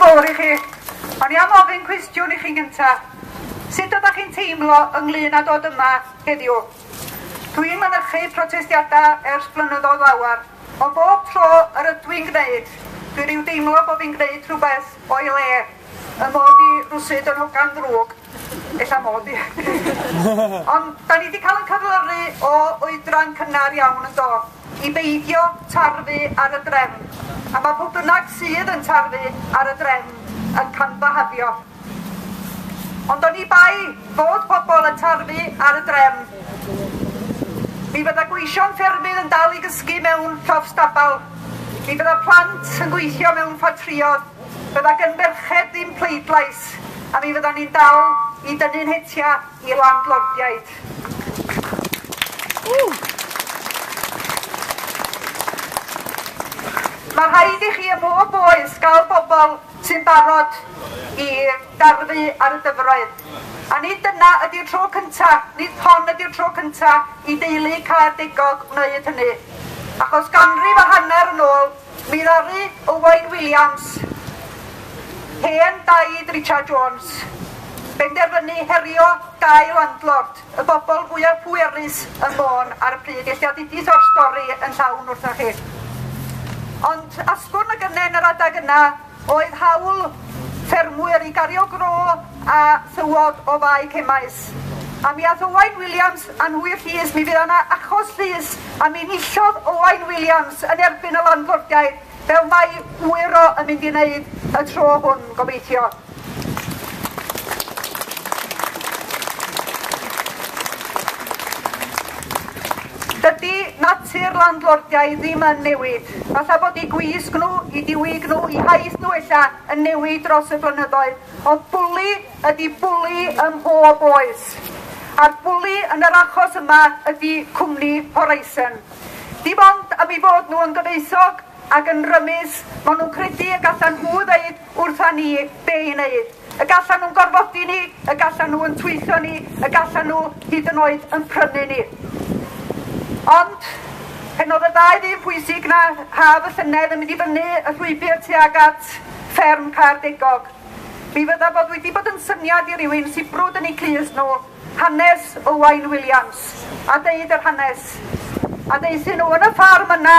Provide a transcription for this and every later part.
fawr i chi. O'n i am ofyn cwestiwn i chi'n gynta. Sut ydych chi'n teimlo ynglyn â dod yma heddiw? Dwi'n mynychu protestiadau ers blynyddoedd lawer, ond bob tro yr ydw i'n gwneud, dwi rhyw deimlo bod fi'n gwneud rhywbeth o'i le, y mod i rwsud yn hogan ddrwg. Ella mod i. Ond da ni wedi cael yn cyflyru o oedran cynnar iawn yn do? I beidio tarfu ar y drefn. A mae pw bynnag sydd yn tarfu ar y drefn yn canfahafio. Ond oni bai fod pobl yn tarfu ar y drefn, mi fydda gweision ffermydd yn dal i gysgu mewn llofstabal, mi fydda plant yn gweithio mewn ffatrïodd, Bydda gyn ferched ddim pleidlais a mi fyddan ni'n dal i dynnu'n hetia i landlordiaid. Mae rhaid i chi ym mhob oes gael bobl sy'n barod i darfu ar y dyfroedd. A nid dyna ydy'r tro cynta, nid hon ydy'r tro cynta i deulu Caerdegog wneud hynny. Achos ganrif a hanner yn ôl, Mi ddaru Owain Williams, hen daid Richard Jones, benderfynu herio dau landlord, y bobl fwyaf pwerus ym Môn ar y pryd, eich diadidis o'r stori yn llawn wrthoch chi. Ond asgwrn y gynnen yr adeg yna, oedd hawl ffermwyr i gario gro a thywod o fae cemais. A mi ath Owain Williams a nhw i'r llys, mi fydd yna achos llys, a mi nillodd Owain Williams yn erbyn y landlordiaid, fel mae Wyro yn mynd i wneud y tro hwn, gobeithio. Dydy natur landlordiau ddim yn newid. Falle bod eu gwisg nhw, eu diwyg nhw, eu haith nhw ella yn newid dros y blynyddoedd, ond bwli ydy bwli ym mhob oes. A'r bwli yn yr achos yma ydy cwmni Horizon. Dim ond am ei fod nhw yn gyfoethog ac yn rymus, maen nhw'n credu y gallan nhw ddeud wrtha ni be i wneud. Y gallan nhw'n gorfodi ni, y gallan nhw yn twyllo ni, y gallan nhw hyd yn oed yn prynu ni. Ond, pen oedd y ddau ddyn pwysig na haf y llynedd yn mynd i fyny y llwybr tuag at fferm Caerdegog, mi fydda bod wedi bod yn syniad i rywun sibrwd yn eu clust nhw Hanes Owain Williams a deud yr hanes. A deuthyn nhw yn y ffarm yna,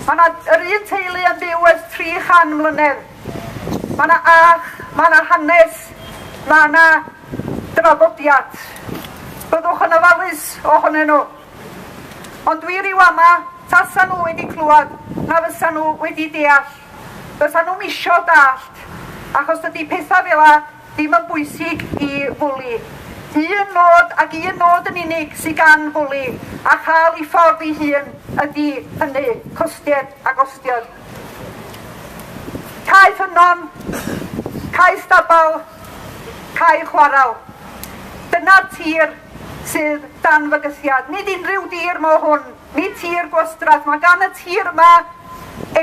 mae yna yr un teulu yn byw ers 300 mlynedd. Mae yna ach, mae yna hanes, mae yna draddodiad. Byddwch yn ofalus ohonyn nhw. Ond dwi rhyw ama, tasa nhw wedi clywed, na fysa nhw wedi deall. Fysa nhw'n misio dallt, achos dydy pethau fel a Ddim yn bwysig i Fwli. Un nod ac un nod yn unig sydd gan Fwli, a chael ei ffordd ei hun, ydy hynny, costied a gostiod. Cae ffynnon, cae stabal, cae chwaral. Dyna'r tir sydd dan fygythiad. Nid unrhyw dir mo hwn, nid tir gwastraff. Mae gan y tir yma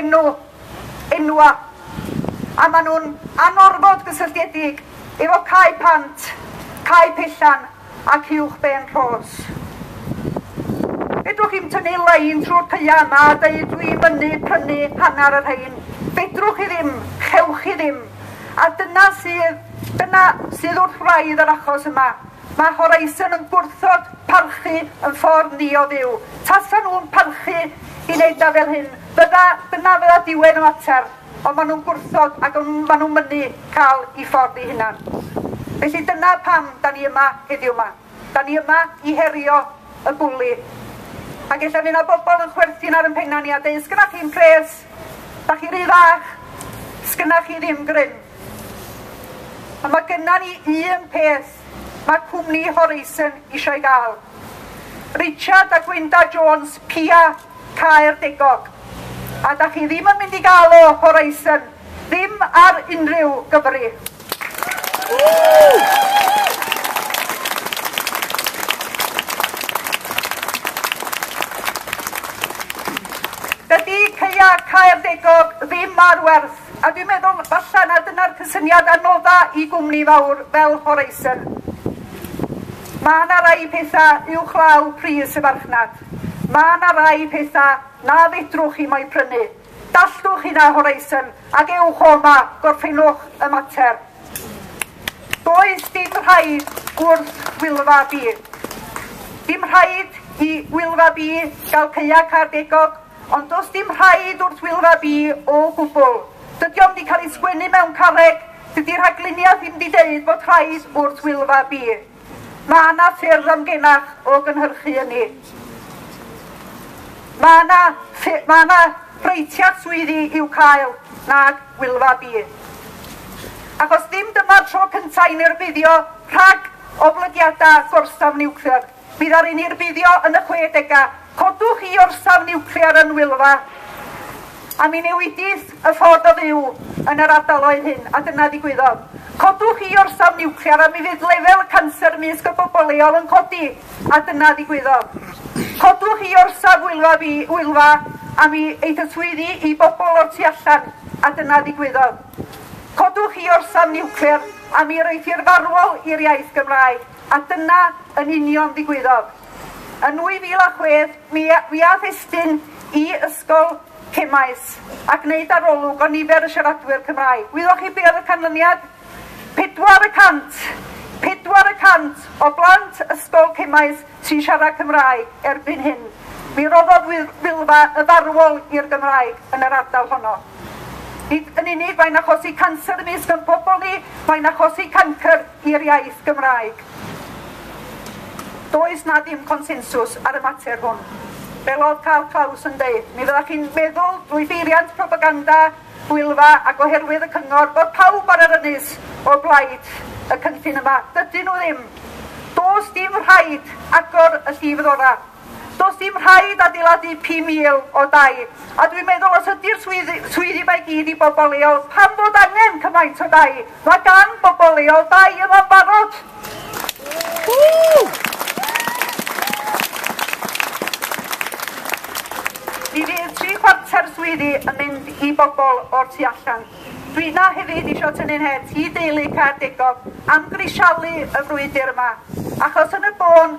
enw. enwau a maen nhw'n anorfod gysylltiedig efo Cae Pant, Cae Pellan ac Uwch Ben Rhos. Fedrwch chi'm tynnu lein trwy'r caeau yma a deud dwi'n mynnu prynu hanner y rhain. Fedrwch chi ddim, chewch chi ddim. A dyna sydd, dyna sydd wrth wraidd yr achos yma. Mae Horizon yn gwrthod parchu yn ffordd ni o fyw. Tasa nhw'n parchu i wneud na fel hyn, fydda, dyna fydda diwedd y mater, ond maen nhw'n gwrthod ac maen nhw'n mynnu cael i ffordd i hunan. Felly dyna pam da ni yma heddiw yma. Da ni yma i herio y bwli. Ac efallai fydd yna bobl yn chwerthin ar yn penna ni a dweud, sgynnach chi'n pres, da chi rhy fach, sgynnach chi ddim grym. A mae gynna ni un peth mae cwmni Horizon eisiau ei gael. Richard a Gwynda Jones, Pia, Caerdegog. A da chi ddim yn mynd i gael o, Horizon, ddim ar unrhyw gyfri. Dydy Ceia Caerdegog ddim ar werth A dwi'n meddwl falle na dyna'r cysyniad anodda i gwmni fawr fel Horizon. Mae yna rai pethau uwchlaw pris y farchnad. Mae yna rai pethau na fedrwch chi mo'i prynu. Dallwch hynna Horizon ac ewch o yma, gorffennwch y mater. Does dim rhaid wrth Wylfa B. Dim rhaid i Wylfa B gael caeau cardegog Ond does dim rhaid wrth Wylfa Bi o gwbl. Dydy o'm 'di cael ei sgwennu mewn carreg, dydy rhagluniau ddim 'di deud bod rhaid wrth Wylfa Bi. Mae yna ffyrdd amgenach o gynhyrchu ynni. Mae yna, mae yna breitiad swyddi i'w cael nag Wylfa Bi. Achos ddim dyma'r tro cyntaf i ni rhag oblygiadau gorsaf niwclear. Bydd ar ein hirbuddio yn y chwedegau. Codwch i orsaf niwclear yn Wylfa. A mi newidith y ffordd o fyw yn yr ardaloedd hyn, a dyna ddigwyddodd. Codwch i orsaf niwclear a mi fydd lefel y canser mysg y bobl leol yn codi, a dyna ddigwyddodd. Codwch i orsaf Wylfa, fi, Wylfa a mi eith y swyddi i bobl o'r tu allan, a dyna ddigwyddodd. Codwch i orsaf niwclear a mi yr eithir farwol i'r iaith Gymraeg. A dyna yn union ddigwyddodd. Yn 2006, mi fuaf estyn i Ysgol Cemaes a gwneud arolwg o nifer y siaradwyr Cymraeg. Gwyddoch chi be oedd y canlyniad? Pedwar y cant! Pedwar y cant o blant Ysgol Cemaes sy'n siarad Cymraeg erbyn hyn. Mi roddodd Wylfa y farwol i'r Gymraeg yn yr ardal honno. Nid yn unig mae'n achosi canser ymysg yn pobl ni, mae'n achosi cancr i'r iaith Gymraeg. Does 'na ddim consensws ar y mater hwn. Fel oedd Karl Klaus yn deud, mi fyddach chi'n meddwl drwy beiriant propaganda gwylfa ac oherwydd y cyngor bod pawb ar yr ynys o blaid y cynllun yma. Dydyn nhw ddim. Does dim rhaid agor y llif ddora. Does dim rhaid adeiladu 5,000 o dai, a dwi'n meddwl os ydy'r swyddi, swyddi mae gyd i bobl leol, pam fod angen cymaint o dai? Mae gan bobl leol dai yma'n barod. Mi fydd tri chwarter swyddi yn mynd i bobl o'r tu allan. Dwi yna hefyd eisiau tynnu'n het i deulu Caerdegog am grisialu y frwydr yma, achos yn y bôn